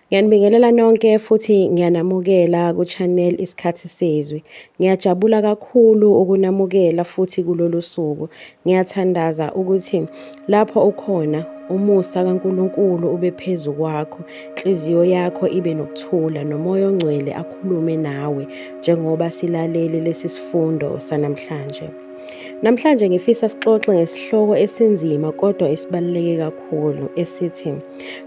Ngiyanibingelela nonke futhi ngiyanamukela ku-channel Isikhathi Sezwi. Ngiyajabula kakhulu ukunamukela futhi kulolu suku. Ngiyathandaza ukuthi lapho ukhona umusa kaNkulunkulu ube phezu kwakho, inhliziyo yakho ibe nokuthula nomoya ongcwele akhulume nawe njengoba silalele lesi sifundo sanamhlanje. Namhlanje ngifisa sixoxe ngesihloko esinzima kodwa esibaluleke kakhulu esithi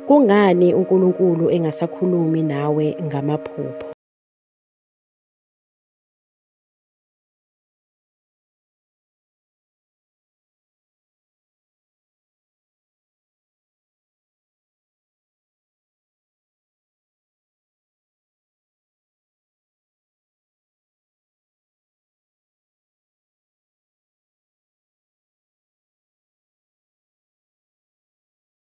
Kungani uNkulunkulu engasakhulumi nawe ngamaphupho?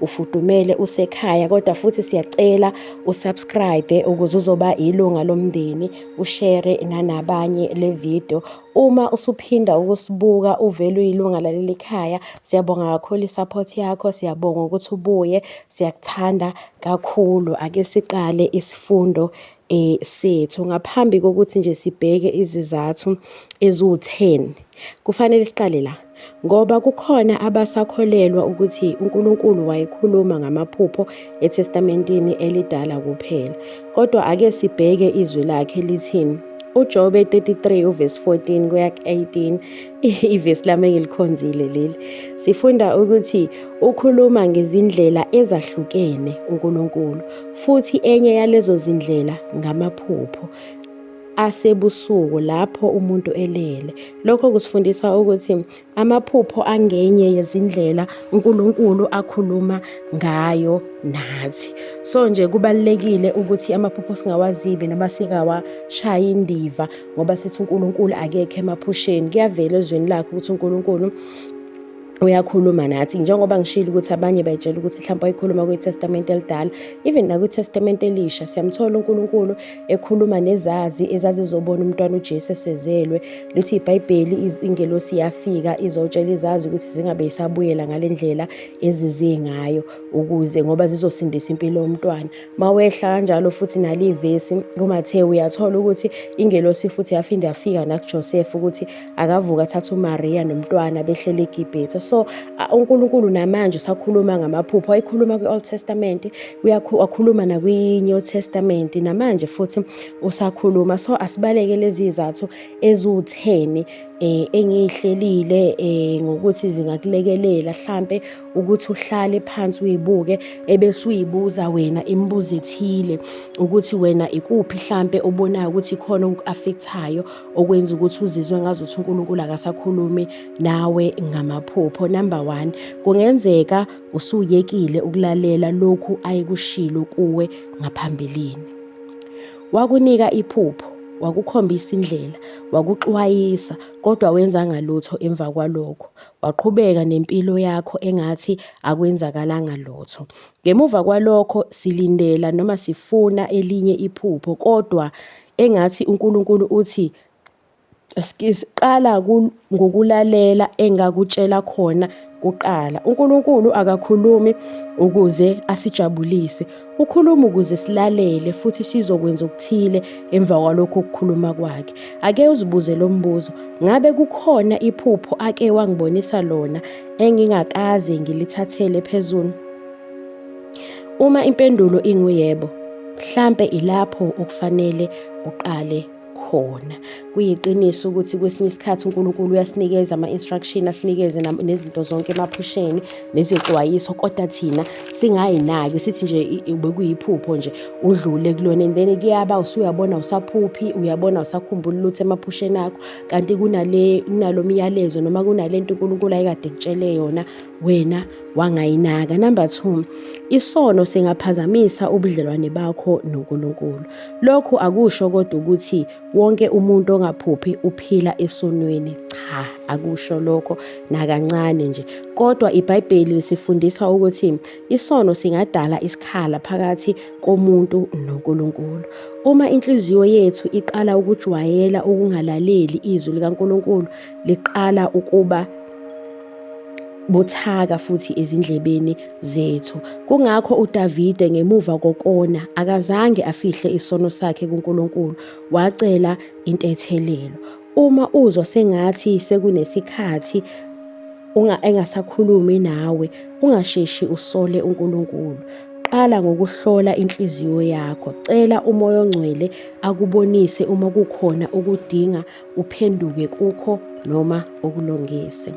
ufudumele usekhaya kodwa futhi siyacela usubscribe ukuze uzoba ilunga lomndeni ushare nanabanye le video uma usuphinda ukusibuka uvele uyilunga laleli khaya siyabonga kakhulu i-support yakho siyabonga ukuthi ubuye siyakuthanda kakhulu ake siqale isifundo eh sethu ngaphambi kokuthi nje sibheke izizathu eziwu-10 kufanele siqale la ngoba kukhona abasakholelwa ukuthi uNkulunkulu wayekhuluma ngamaphupho eTestamentini elidala kuphela kodwa ake sibheke izwi lakhe lithini uJobe 33 uvesi 14 kuya 18 ivesi lami engilikhonzile leli sifunda ukuthi ukhuluma ngezindlela ezahlukene uNkulunkulu futhi enye yalezo zindlela ngamaphupho asebusuku lapho umuntu elele lokho kusifundisa ukuthi amaphupho angenye yezindlela uNkulunkulu akhuluma ngayo nathi so nje kubalekile ukuthi amaphupho singawazibi noma sikawashayi indiva ngoba sithi uNkulunkulu akekho emaphusheni kuyavela ezweni lakhe ukuthi uNkulunkulu uyakhuluma nathi njengoba ngishilo ukuthi abanye bayitshela ukuthi mhlawumbe wayikhuluma kwitestamente elidala even nakwitestamente elisha siyamthola unkulunkulu ekhuluma nezazi ezazizobona umntwana ujesu esezelwe lithi ibhayibheli ingelosi yafika izotshela izazi ukuthi zingabe isabuyela ngale ndlela ezize ngayo ukuze ngoba zizosindisa impilo yomntwana Mawehla kanjalo futhi nali ivesi kuMathewu uyathola ukuthi ingelosi futhi yaphinde yafika nakuJoseph ukuthi akavuka athatha uMaria nomntwana behlele eGibhithe. So uNkulunkulu namanje usakhuluma ngamaphupho ayikhuluma kwi-Old Testament, uyakhuluma nakwi-New Testament namanje futhi usakhuluma. So asibaleke lezi izathu eziwutheni eh engiyihlelile eh ngokuthi zingakulekelela hlampe ukuthi uhlale phansi uyibuke ebese uyibuza wena imibuzo ethile ukuthi wena ikuphi hlampe obonayo ukuthi ikhona okuaffectayo okwenza ukuthi uzizwe ngazi ukuthi uNkulunkulu akasakhulumi nawe ngamaphupho number 1 kungenzeka usuyekile ukulalela lokhu ayekushilo kuwe ngaphambilini wakunika iphupho wakukhombisa indlela wakuxwayisa kodwa wenzanga lutho emva kwalokho Waqhubeka nempilo yakho engathi akwenzakalanga lutho. Ngemuva kwalokho silindela noma sifuna elinye iphupho kodwa engathi uNkulunkulu uthi siqala ngokulalela engakutshela khona kuqala. UNkulunkulu akakhulumi ukuze asijabulise. Ukhuluma ukuze silalele futhi sizokwenza okuthile emva kwalokho kukhuluma kwakhe. Ake uzibuze lo mbuzo, ngabe kukhona iphupho ake wangibonisa lona engingakaze ngilithathele phezulu? Uma impendulo inguyebo, mhlampe ilapho okufanele uqale khona. Kuyiqiniso ukuthi kwesinye isikhathi uNkulunkulu uyasinikeza ama-instruction, asinikeze nezinto zonke emaphusheni nezexwayiso, kodwa thina singayinaki sithi nje bekuyiphupho nje udlule kulona and then kuyaba usuyabona usaphuphi, uyabona usakhumbula lutho emaphusheni akho kanti kunale kunalo myalezo noma kunale nto uNkulunkulu ayekade ekutshele yona wena wangayinaka. Number two, isono singaphazamisa ubudlelwane bakho noNkulunkulu. Lokhu akusho kodwa ukuthi wonke umuntu ongaphuphi uphila esonweni. Cha, akusho lokho nakancane nje. Kodwa iBhayibheli lisifundisa ukuthi isono singadala isikhala phakathi komuntu noNkulunkulu. Uma inhliziyo yethu iqala ukujwayela ukungalaleli izwi likaNkulunkulu, liqala ukuba buthaka futhi ezindlebeni zethu. Kungakho uDavide ngemuva kokona akazange afihle isono sakhe kuNkulunkulu, wacela intethelelo. Uma uzwa sengathi sekunesikhathi unga engasakhulumi nawe, ungasheshi usole uNkulunkulu. Qala ngokuhlola inhliziyo yakho. Cela uMoya oNgcwele akubonise uma kukhona okudinga uphenduke kukho noma ukulungise.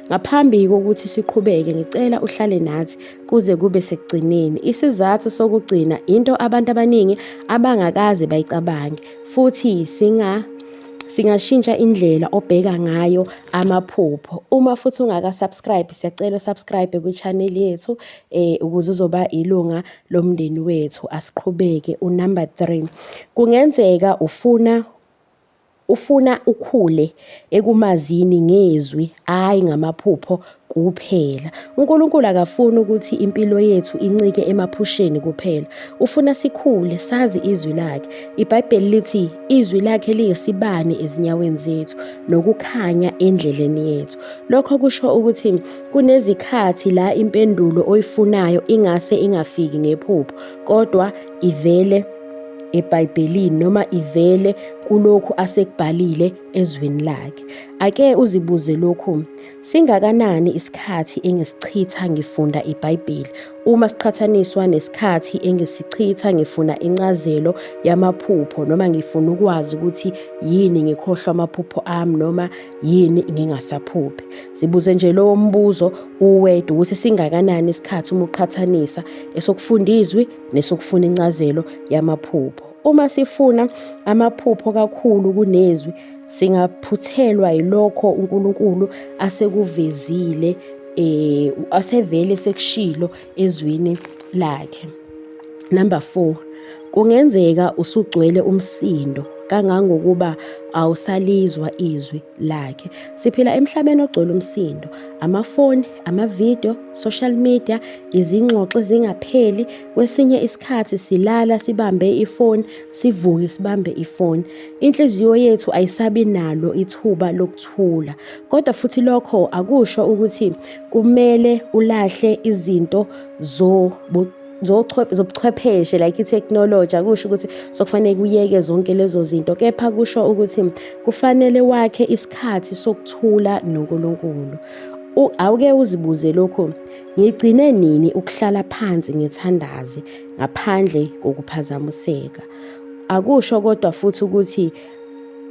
Ngaphambi kokuthi siqhubeke ngicela uhlale nathi kuze kube sekugcineni. Isizathu sokugcina into abantu abaningi abangakaze bayicabange futhi singa singashintsha indlela obheka ngayo amaphupho uma futhi ungaka subscribe siyacela subscribe kwi channel yethu eh ukuze uzoba ilunga lomndeni wethu asiqhubeke u number 3 kungenzeka ufuna Ufuna ukhule ekumazini ngezwi, hhayi ngamaphupho kuphela. UNkulunkulu akafuni ukuthi impilo yethu incike emaphusheni kuphela. Ufuna sikhule sazi izwi lakhe. IBhayibheli lithi izwi lakhe liyisibani ezinyaweni zethu nokukhanya endleleni yethu. Lokho kusho ukuthi kunezikhathi la impendulo oyifunayo ingase ingafiki ngephupho, kodwa ivele eBhayibhelini noma ivele kulokhu asekubhalile ezweni lakhe. Ake uzibuze lokhu, singakanani isikhathi engisichitha ngifunda iBhayibheli uma siqhathaniswa nesikhathi engisichitha ngifuna incazelo yamaphupho noma ngifuna ukwazi ukuthi yini ngikhohlwa amaphupho ami noma yini ngingasaphuphi. Sibuze nje lowo mbuzo uwedwa ukuthi singakanani isikhathi uma uqhathanisa esokufunda izwi nesokufuna incazelo yamaphupho. Uma sifuna amaphupho kakhulu kunezwi, singaphuthelwa yilokho uNkulunkulu asekuvezile eh asevele sekushilo ezwini lakhe. Number 4 kungenzeka usugcwele umsindo kangangokuba awusalizwa izwi lakhe. Siphila emhlabeni ogcwele umsindo, amafoni, amavidiyo, social media, izingxoxo ezingapheli. Kwesinye isikhathi silala sibambe ifoni, sivuke sibambe ifoni. Inhliziyo yethu ayisabi nalo ithuba lokuthula. Kodwa futhi lokho akusho ukuthi kumele ulahle izinto zobu zobuchwepheshe like itechnology akusho ukuthi sokufanele kuyeke zonke lezo zinto kepha kusho ukuthi kufanele wakhe isikhathi sokuthula noNkulunkulu awuke uzibuze lokho ngigcine nini ukuhlala phansi ngithandaze ngaphandle kokuphazamiseka akusho kodwa futhi ukuthi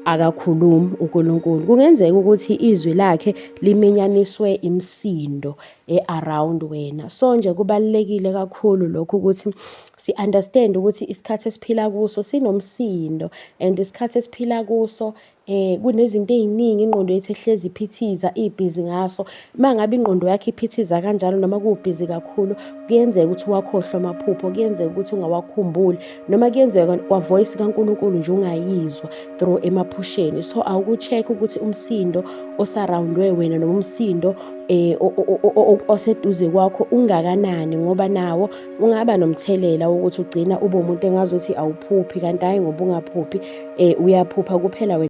akakhulumi uNkulunkulu kungenzeka ukuthi izwi lakhe liminyaniswe imsindo e-around wena. So nje kubalulekile kakhulu lokhu ukuthi si-understand ukuthi isikhathi esiphila kuso sinomsindo and isikhathi esiphila kuso eh kunezinto eziningi ingqondo yethu ehlezi iphithiza ibhizi ngaso mangabe ingqondo yakhe iphithiza kanjalo noma kubhizi kakhulu kuyenzeka ukuthi wakhohlwa amaphupho kuyenzeka ukuthi ungawakhumbuli noma kuyenzeka kwavoice kaNkulunkulu nje ungayizwa through emaphusheni so awuku-check ukuthi umsindo osarowundwe wena noma umsindo eh oseduze kwakho ungakanani ngoba nawo ungaba nomthelela wokuthi ugcina ube umuntu engazothi awuphuphi kanti hayi ngoba ungaphuphi eh uyaphupha kuphela wena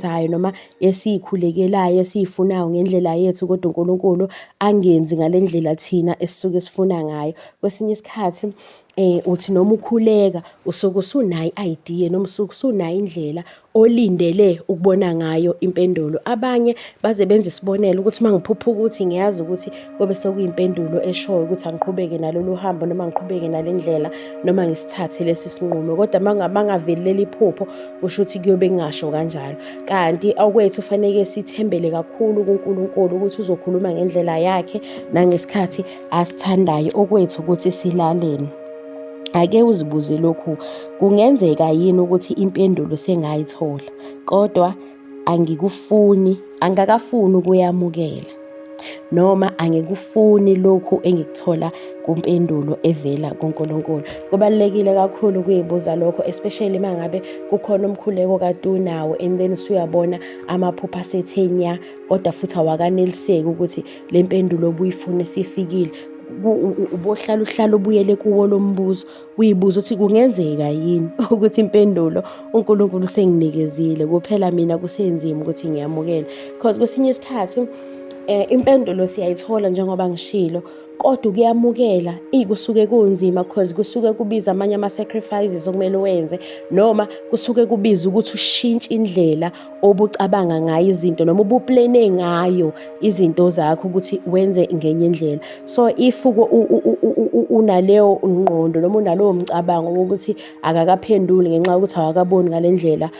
esiyithandayo noma esiyikhulekelayo esiyifunayo ngendlela yethu kodwa uNkulunkulu angenzi ngale ndlela thina esisuke sifuna ngayo. Kwesinye isikhathi eh uthi noma ukhuleka usuke usunayo i-idea noma usuke usunayo indlela olindele ukubona ngayo impendulo. Abanye baze benze isibonelo ukuthi uma ngiphupha ukuthi ngiyazi ukuthi kobe sekuyimpendulo eshoyo ukuthi angiqhubeke nalolu hambo noma ngiqhubeke nale ndlela noma ngisithathe lesi sinqumo. Kodwa uma ngaveleleli iphupho kusho ukuthi kuyobe kungasho kanjalo kanti okwethu faneke sithembele kakhulu kuNkulunkulu ukuthi uzokhuluma ngendlela yakhe nangesikhathi asithandayo okwethu ukuthi silaleni ake uzibuze lokhu kungenzeka yini ukuthi impendulo sengayithola kodwa angikufuni angakafuni ukuyamukela noma angikufuni lokhu engikuthola kumpendulo evela kuNkulunkulu. Kubalulekile kakhulu ukuyibuza lokho especially uma ngabe kukhona umkhuleko kade unawo and then usuyabona amaphupha asethenya kodwa futhi awakaneliseki ukuthi le mpendulo obuyifuna isifikile ubohlala uhlala ubuyele kuwo lo mbuzo Uyibuza ukuthi kungenzeka yini ukuthi impendulo uNkulunkulu usenginikezile kuphela mina kusenzima ukuthi ngiyamukele because kwesinye isikhathi eh impendulo siyayithola njengoba ngishilo kodwa ukuyamukela ikusuke kunzima because kusuke kubiza amanye ama sacrifices okumele wenze noma kusuke kubiza ukuthi ushintshe indlela obucabanga ngayo izinto noma ubuplene ngayo izinto zakho ukuthi wenze ngenye indlela so if unaleyo ngqondo noma unalowo mcabango wokuthi akakaphenduli ngenxa yokuthi awakaboni ngale ndlela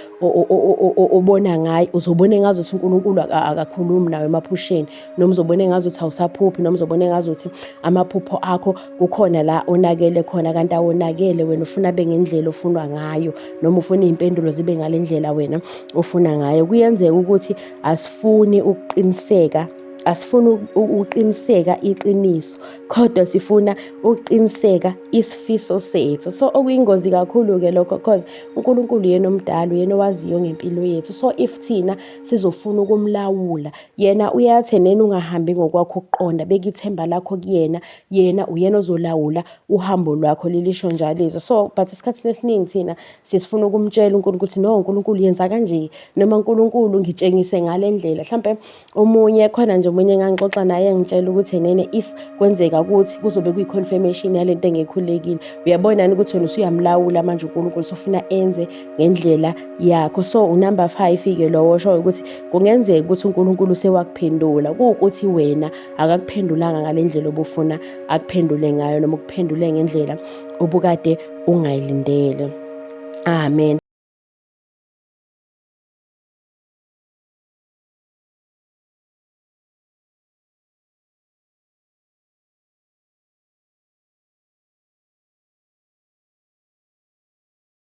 obona ngayo uzobona engazuthi unkulunkulu akakhulumi nawe emaphusheni noma uzobona engazuthi awusaphuphi noma uzobona engazuthi amaphupho akho kukhona la onakele khona kanti awonakele wena ufuna abe ngendlela ofunwa ngayo noma ufuna iy'mpendulo zibe ngale ndlela wena ofuna ngayo kuyenzeka ukuthi asifuni ukuqiniseka asifuni ukuqiniseka iqiniso kodwa sifuna ukuqiniseka isifiso sethu so okuyingozi kakhulu-ke lokho cause unkulunkulu yena omdala uyena owaziyo ngempilo yethu so if thina sizofuna ukumlawula Yena uyathe nena ungahambi ngokwakho ukuqonda, beka ithemba lakho kuyena, yena uyena ozolawula uhambo lwakho lilisho njalo izwi. So but isikhathini esiningi thina sisifuna ukumtshela uNkulunkulu ukuthi no uNkulunkulu yenza kanje noma uNkulunkulu ngitshengise ngale ndlela. Mhlampe omunye khona nje omunye engangixoxa naye ngitshela ukuthi nene if kwenzeka ukuthi kuzobe kuyi confirmation yalento engekhulekile. Uyabona ukuthi wena usuyamlawula manje uNkulunkulu sofuna enze ngendlela yakho so unumber 5 ke lowo osho ukuthi kungenzeka ukuthi uNkulunkulu sewakuphendula kuwukuthi wena akakuphendulanga ngalendlela obufuna akuphendule ngayo noma ukuphendule ngendlela ubukade ungayilindele amen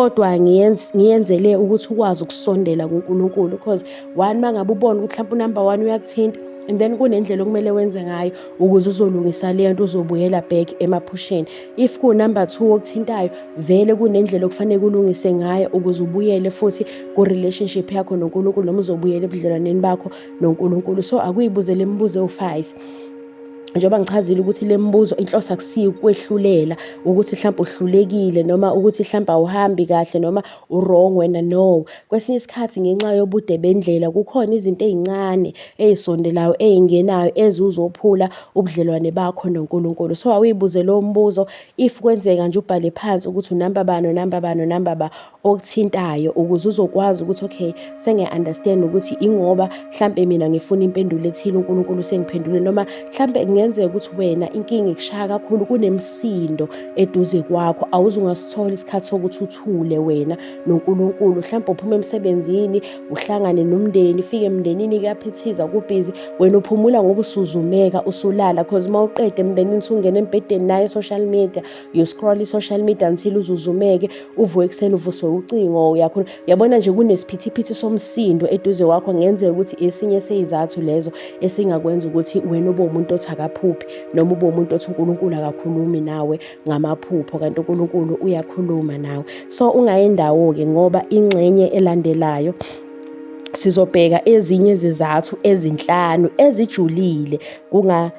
kodwa ngiyenzele ukuthi ukwazi ukusondela kuNkulunkulu because one uma ngabe ubona ukuthi mhlawumpe unumber one uyakuthinta and then kunendlela okumele wenze ngayo ukuze uzolungisa le nto uzobuyela back emaphusheni if kunumber two okuthintayo vele kunendlela okufanele kulungise ngayo ukuze ubuyele futhi ku-relationship yakho nonkulunkulu noma uzobuyela ebudlelwaneni bakho nonkulunkulu so akuyibuzele imibuzo ewu-five njengoba ngichazile ukuthi le mbuzo inhloso akusiyo ukwehlulela ukuthi mhlawumbe uhlulekile noma ukuthi mhlawumbe awuhambi kahle noma u-wrong wena no kwesinye isikhathi ngenxa yobude bendlela kukhona izinto ey'ncane ey'sondelayo ey'ngenayo ezuzophula ubudlelwane bakho nonkulunkulu so awuyibuze lowo mbuzo if kwenzeka nje ubhale phansi ukuthi unamba bani unamba bani unamba ba okuthintayo ukuze uzokwazi ukuthi okay sengiya-understand ukuthi ingoba mhlampe mina ngifuna impendulo ethile unkulunkulu sengiphendule noma mhlampe kungenzeka ukuthi wena inkinga ikushaya kakhulu kunemsindo eduze kwakho awuze ungasithola isikhathi sokuthi uthule wena nonkulunkulu mhlampe uphuma emsebenzini uhlangane nomndeni fike emndenini kuyaphithiza kubhizi wena uphumula ngoba usuzumeka usulala cause uma uqede emndenini usungena embhedeni naye social media you scroll i-social media until uzuzumeke uvuke ekuseni uvuswe ucingo uyakhona uyabona nje kunesiphithiphithi somsindo eduze kwakho ngenzeka ukuthi esinye seyizathu lezo esingakwenza ukuthi wena ube umuntu othi akaphuphi noma ube umuntu othi unkulunkulu akakhulumi nawe ngamaphupho kanti unkulunkulu uyakhuluma nawe so ungayi ndawo-ke ngoba ingxenye elandelayo sizobheka ezinye izizathu ezinhlanu ezijulile kunga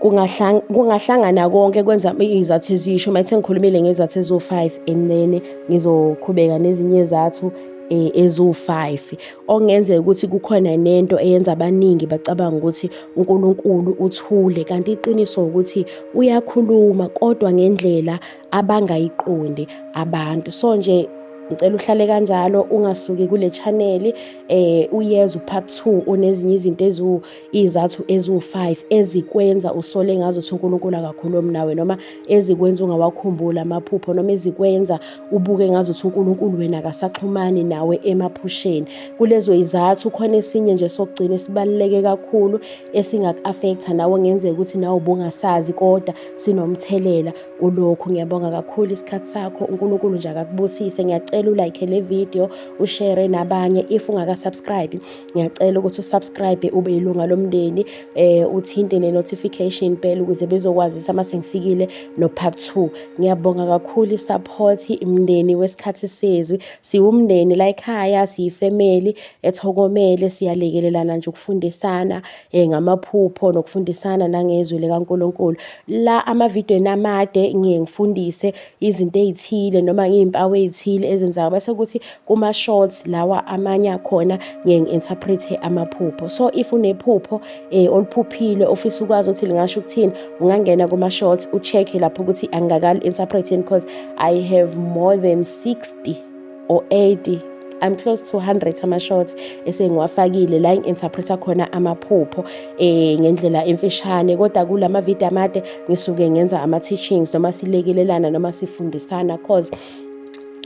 kungahlangana konke kwenza izathu ezisho uma ethe ngikhulumile ngezathu eziwu-five and then ngizoqhubeka nezinye zathu eh, eziwu-five okungenzeka ukuthi kukhona nento eyenza abaningi bacabanga ukuthi uNkulunkulu uthule kanti iqiniso ukuthi uyakhuluma kodwa ngendlela abangayiqondi abantu so nje ngicela uhlale kanjalo ungasuki kule channel eh uyeza upart 2 onezinye izinto eziwu iy'zathu eziwu-five ezikwenza usole ngazo ukuthi uNkulunkulu akakhulumi nawe noma ezikwenza ungawakhumbuli amaphupho noma ezikwenza ubuke ngazo ukuthi uNkulunkulu wena akasaxhumani nawe emaphusheni kulezo izathu khona esinye nje sokugcina esibaluleke kakhulu esingaku-afektha nawe ngenzeka ukuthi nawe ubungasazi kodwa sinomthelela kulokhu ngiyabonga kakhulu isikhathi sakho uNkulunkulu nje akakubusise ngiyacela ulayikhe le video ushere nabanye if ungaka-subscribe ngiyacela ukuthi usubscribe ube yilunga lomndeni eh uthinte ne notification bell ukuze bezokwazisa uma sengifikile no part 2 ngiyabonga kakhulu isupport imndeni wesikhathi sezwi siwumndeni la ekhaya siyifamily ethokomele siyalekelelana nje ukufundisana eh ngamaphupho nokufundisana nangezwi likaNkuluNkulu la ama video namade ngiye ngifundise izinto ezithile noma ngiy'mpawu ezithile ezenzaka bese kuthi kuma-shorts lawa amanye akhona ngiye ngi-interprethe amaphupho so if unephupho um oluphuphile ofisa ukwazi ukuthi lingasho ukuthini ungangena kuma-shorts u-check-e lapho ukuthi angingakali-interprethe because i have more than 60 or 80 I'm close to 100 ama shots esengiwafakile la ngi-interpreta khona amaphupho eh ngendlela emfishane kodwa kulama video amade ngisuke ngenza ama teachings noma silekelelana noma sifundisana cause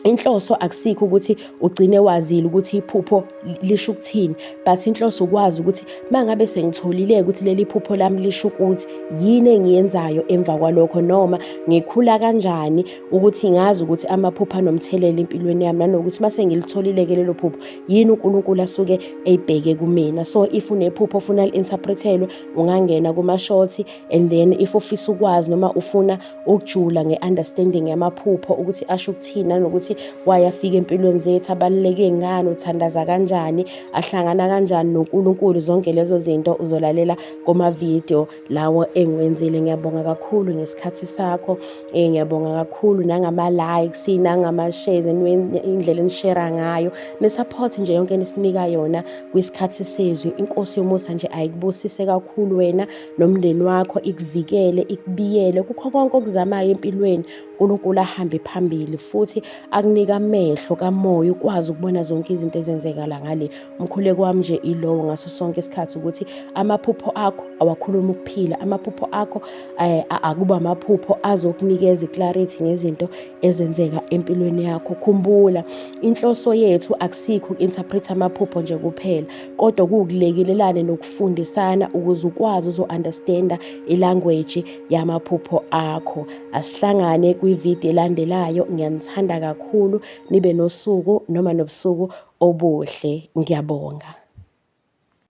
inhloso akusikho ukuthi ugcine wazile ukuthi iphupho lisho ukuthini but inhloso ukwazi ukuthi mangabe sengitholile ukuthi leli phupho lami lisho ukuthi yini engiyenzayo emva kwalokho noma ngikhula kanjani ukuthi ngazi ukuthi amaphupho anomthelela empilweni yami nanokuthi uma sengilitholile-ke lelo phupho yini unkulunkulu asuke eyibheke kumina so if unephupho ofuna li-interprethelwe ungangena kuma-shorty and then if ufisa ukwazi noma ufuna ukujula nge-understanding yamaphupho ukuthi asho ukuthini nanokuthi wayafika empilweni zethu abaluleke ngani uthandaza kanjani ahlangana kanjani nonkulunkulu zonke lezo zinto uzolalela kuma-video lawo engiwenzile ngiyabonga kakhulu ngesikhathi sakho eh ngiyabonga kakhulu nangama likes nangama shares indlela enishare ngayo ne support nje yonke enisinika yona kwisikhathi sezwi inkosi yomusa nje ayikubusise kakhulu wena nomndeni wakho ikuvikele ikubiyele kukho konke okuzamayo empilweni uNkulunkulu ahambe phambili futhi akunika amehlo kamoya ukwazi ukubona zonke izinto ezenzeka la ngale Umkhuleko wami nje ilowo ngaso sonke isikhathi ukuthi amaphupho akho awakhuluma ukuphila, amaphupho akho eh, akuba amaphupho azokunikeza iclarity ngezinto ezenzeka empilweni yakho. Khumbula inhloso yethu akusikho uku-interpret amaphupho nje kuphela, kodwa kuwukulekelelana nokufundisana ukuze ukwazi uzo-understanda ilanguage yamaphupho akho. Asihlangane kwividiyo elandelayo, ngiyanithanda kakhulu. nibe nosuku noma nobusuku obuhle. Ngiyabonga.